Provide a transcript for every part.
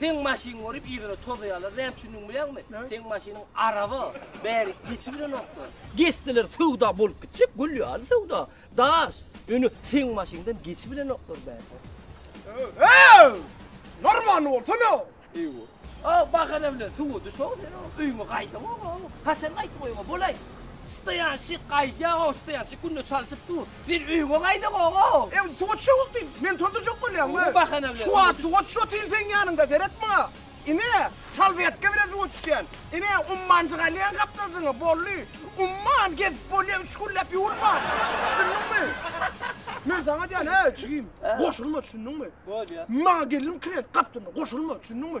Seň maşyn görüp yzyna tozaýarlar näme üçindigini bilýäňmi? Seň maşynyň araba bäri geçibilenoklar. Geçseler söwda bolup gitjek gül ýaly söwda. Daş, ýöne seň maşyňdan geçibilenoklar bäri. Öööw! Normanly bolsana! Eýwa. A bahana bilen suwa düşow sen o öýüňe gaýdaňow o. Haçan gaýtdyň öýüňe bolaý? Stoýanşik gaýdýaňow, stoýanşik günde çalşyp dur. Sen öýňe gaýda gogo. Ew suwa düşe wagty men turdurjak bolýan we şu wagt suwa düş otyryn seň ýanyňda seret maňa. Ine çal beýtge bilen suwa düşýän. Ine ummanjyk alýan gapdaljyňy boldy. Umman gezip bolýa üç günläp ýuwulman. Düşündiňmi? Men saňa diýýän he jigim goşulma düşündiňmi? Maňa gelin klient gapdalynda goşulma düşündiňmi?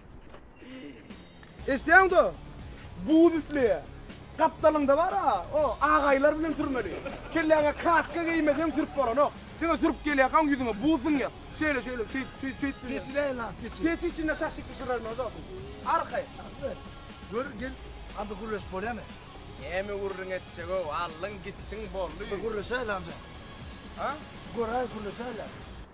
Eşitýäňda? Buz üfleýär. Gapdalyňda bar-a, o agaýlar bilen sürmeli. Kelläňe kaska geýmeseň sürüp bolanok. Diňe sürüp gelýärkaň ýüzüňe buz siňýär. Şeýle, şeýle, şeýt, şeýt, şeýt diňe. Geçiräýiň ak geçi. Keçi içinde şaşyk bişirermiň özem? Arkaý. Gör, gel. A bir gürleşip bolýamy? Näme gürrüň etjeg-ow, aldyň gitdiň boldy. Bir gürleşäýli amja. Ha? Göräýeli gürleşäýle.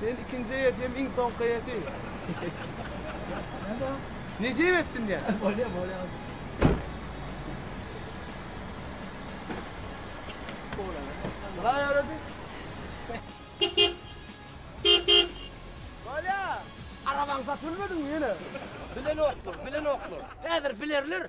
Sen ikinji eýet hem iň soňky eýeti. Nädä? Nesip etsin ya. Bolýa, bolýa. Bolýa. öwredi. Bolýa. Arabaň satylmadymy ýene? Bilenoklar, bilenoklar. Häzir bilerler.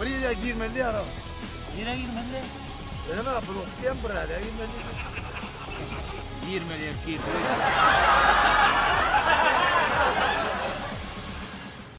Bir ýere girmeli ýaram. Nirä girmeli? Öňe bulup diýen bir ýere girmeli. Girmeli, girmeli.